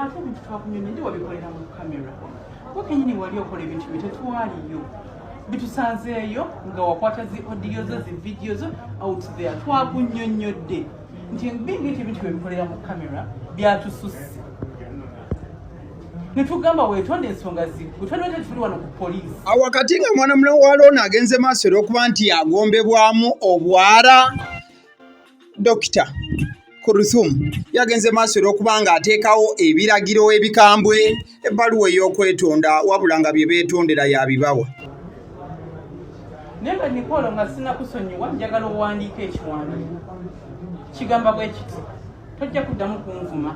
ate ebintu twakunyona ndi wabikolera mu kamera wakenyini wali okola ebintu bye tetwaliyo bitusanzeeyo nga wakwata zi odiyo zo zi vidiyo zo out there twakunyonyodde nti bingi nti ebintu byebikolera mu kamera byatususse netugamba wetonda ensonga zituli wano ku poliisi awakati nga mwana mulamu wa loona agenze maaso era okuba nti agombebwamu obwala dokita kuruthum yagenze maaso era okuba nga ateekawo ebiragiro ebikambwe ebbaluwa ey'okwetonda wabula nga bye beetondera yabibawa naye nga nikolo nga sinakusonyiwa njagala owandiika ekiwandiiko kigamba bwe kiti tojja kuddamu kunvuma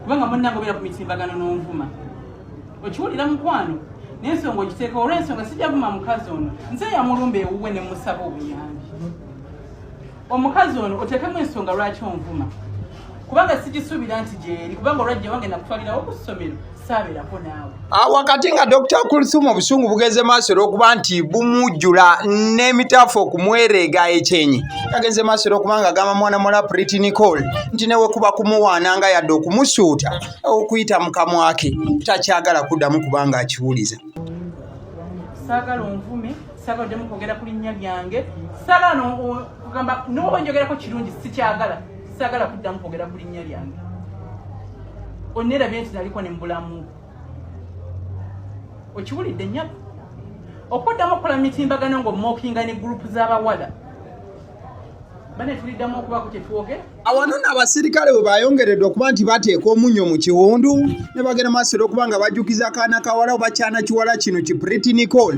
kubanga munnange obeera ku mitimbagano n'onvuma okiwulira mukwano nensonga okiteeka olwensonga sijavuma mukazi ono nze yamulumba ewuwe ne musaba obuyambi omukazi ono oteekemu ensonga lwaki onvuma kubanga sijisuubira nti gyeri kubanga olwajja wange nakutwalirawo ku ssomero Ah, wakati nga dr kulthum obusungu bugenze maaso era okuba nti bumujjula n'emitaafu okumwereega ekyenyi kagenze maaso era okuba nga agamba mwana muwala priti nicol nti newekuba kumuwaana nga yadde okumusuuta okuyita mu kamwake takyagala kuddamu kubanga akiwuliza saagala onvume saagala oddemu kwogera ku linnya lyange saagala nogamba noba njogerako kirungi sikyagala sagala kuddamu kwogera ku linnya lyange onnerabye nti naliko ne mubulamu okiwulidde nyabo okuddamu okukola mitimbagano ng'omookinga ne gurupu z'abawala bane tuliddamu okubaku kyetwogera awano no abasirikale bwe bayongeredde okuba nti bateeka omunyo mu kiwundu ne bagenda maasiro okuba nga bajjukiza kaana kawala oba kyana kiwala kino ki pretty nicole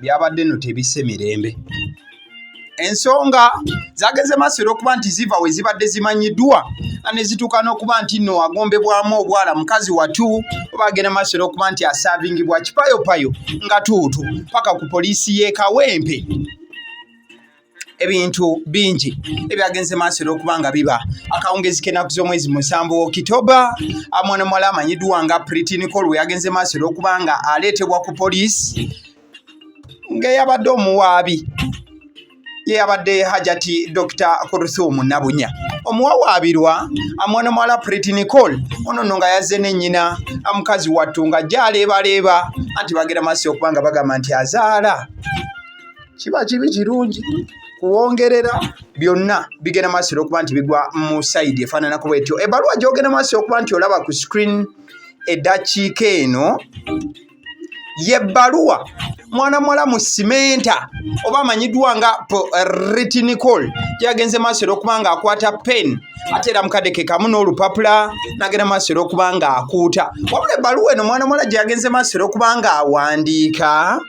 byabadde no tebisse mirembe ensonga zageze maaso era okuba nti ziva we zibadde zimanyiddwa nga ne zituuka n'okuba nti nno agombebwamu obwala mukazi watu oba agenda maaso era okuba nti asaavingibwa kipayopayo nga tuutu paka ku poliisi y'e kawempe ebintu bingi ebyagenze maaso era okuba nga biba akawungezi k'ennaku z'omwezi musanvu okitoba amwana muwala amanyiddwa nga pritinicol we yagenze maaso era okuba nga aleetebwa ku poliisi ng'eyabadde omuwaabi yeyabadde hajati dr kuruthumu nabunya omuwawaabirwa amwana muwala preti nicole ono no nga yazze ne nnyina amukazi wattu nga gyaleebaleeba anti bagera maaso okuba nga bagamba nti azaala kiba kibi kirungi kuwongerera byonna bigenda maaso era okuba nti bigwa mu sayidi efaananako bwetyo ebbaluwa gyogenda maaso okuba nti olaba ku screen eddakiika eno yebbaluwa mwana muwala mu simenta oba amanyiddwa nga retinicol gyeyagenze maaso era okuba nga akwata pen ate era mukadde ke kamu n'olupapula nagenda maaso era okuba nga akuuta wabula ebbaluwa eno mwana muwala gyeyagenze maaso era okuba nga awandiika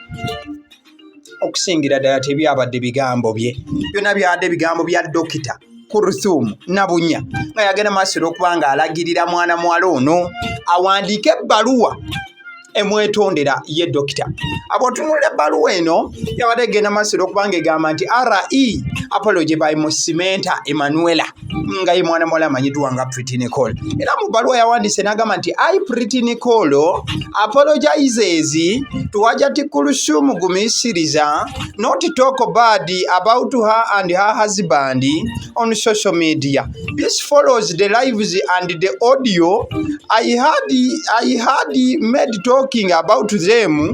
okusingira ddala tebyabadde bigambo bye byonna byabadde bigambo bya dokita kuruthumu nabunya nga yagenda maaso olwokuba nga alagirira mwana muwala ono awandiike ebbaluwa emwetondera ye dokita abotunulira ebbaluwa eno yabadde egenda maaso olwokuba nga egamba nti re apology by musimenta emanuela nga ye mwana muwala amanyiddwa nga Pretty Nicole era mu bbaluwa yawandiise n'agamba nti ai Pretty Nicole apologizes to Hajati Kulsum Gumisiriza not talk bad about her and her husband on social media this follows the lives and the audio I had, I had made talking about them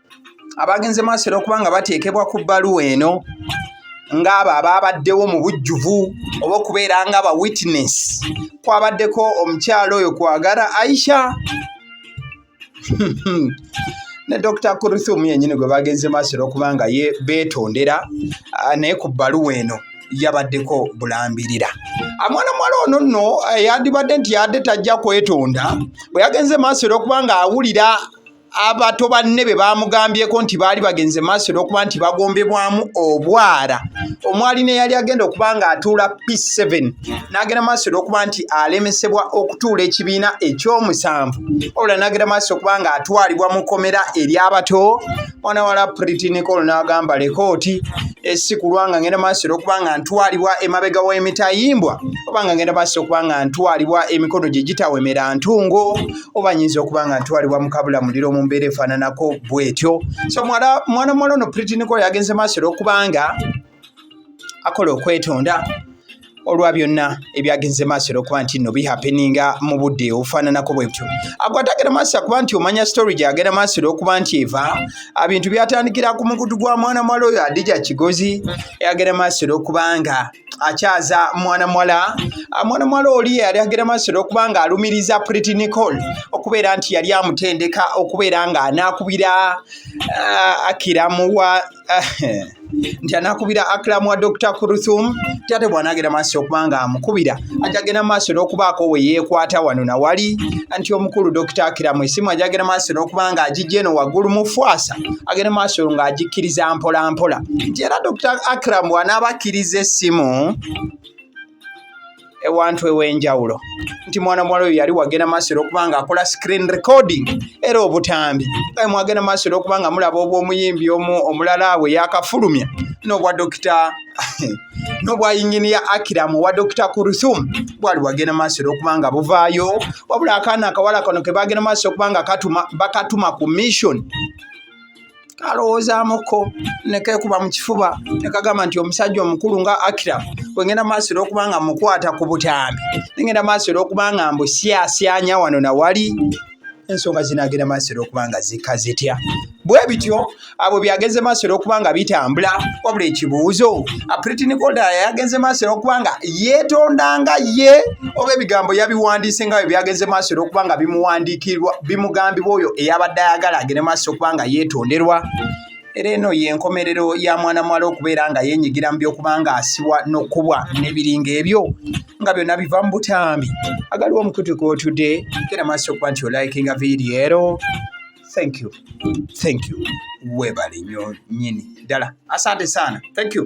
abagenze maaso era okuba nga bateekebwa ku bbaluwa eno ng'abo abaabaddewo mu bujjuvu oba okubeera nga ba witness kwabaddeko omukyalo oyo kwagala aisha ne dr kuruthum yenyini gwe bagenze maaso era okuba nga ye beetondera ah, naye ku bbaluwa eno yabaddeko bulambirira amwana mwala ono nno eh, yandibadde nti yadde tajja kwetonda bwe yagenze maaso era okuba nga awulira abato banne be baamugambyeko nti baali bagenze maaso olwokuba nti bagombebwamu obwala omwali neyali agenda okuba nga atuula p7 n'agenda maaso olwokuba nti alemesebwa okutuula ekibiina ekyomusanvu wabula n'agenda maaso okuba nga atwalibwa mu komera ery'abato mwana wala pritinicol n'agamba lekooti esikulwa nga ngenda maaso olwokuba nga ntwalibwa emabega w'emitayimbwa oba nga ngenda maaso okuba nga ntwalibwa emikono gye gitawemera ntungo oba nyinza okuba nga ntwalibwa mukabula muliro mu mbeera efaananako bwetyo so mwana mwana ono pritiniko yagenze maaso era okubanga akola okwetonda olwa byonna ebyagenze maaso era okuba nti no bihapeninga mu budde obufaananako bwebutyo agwatagera maaso akuba nti omanya story gyagera maaso era okuba nti eva abintu byatandikira ku mukutu gwa mwana mwala oyo adija kigozi eyagera maaso era okubanga akyaza mwana muwala ah, mwana muwala oli yali agera masiro okuba nga alumiriza pretty nicol okubeera nti yali amutendeka okubeera nga anakubira ah, akiramuwa ah, nti anakubira akiramu wa dr kuruthum ti ate bwanagera maaso okuba nga amukubira ajagenda maaso n'okubaako we yeekwata wano nawali nti omukulu dr akiramu esimu ajagenda maaso n'okuba nga agijja eno waggulu mufwasa agenda maaso ng'agikkiriza mpolampola nti era dr akram wanaaba akkiriza essimu ewantu ew'enjawulo nti mwana muwala oyo yali wagenda maaso era okuba nga akola screen recording era obutambi aye mwagenda maaso era okuba nga mulaba obw'omuyimbi omu omulala we yakafulumya n'obwa dokita n'obwa yinginiya akiramu owa dokita kuruthum bwali bwagenda maaso era okuba nga buvaayo wabula akaana akawala kano ke bagenda maaso okuba nga bakatuma ku mission kalowoozamuko nekekuba mu kifuba nekagamba nti omusajja omukulu nga akira wengenda maaso era okuba nga mukwata ku butambi nengenda maaso era okuba nga mbu syasyanya wano nawali ensonga zinagenda maaso era okuba nga zika zitya bwe bityo abo byagenze maaso era okuba nga bitambula wabula ekibuuzo apritinikolda yagenze maaso era okuba nga yeetondanga ye oba ebigambo yabiwandiise nga bwe byagenze maaso era okuba nga bimuwandiikirwa bimugambibwa oyo eyabadde ayagala agende maaso okuba nga yeetonderwa era eno y'enkomerero ya mwana muwala okubeera nga yeenyigira mu by'okuba nga asibwa n'okubwa n'ebiringa ebyo nga byonna biva mu butambi agaliwo omukutu gw'otudde genda maaso okuba nti olayikinga vidiyo ero thank you thank you weebale nyo nyini ddala asante saana thank you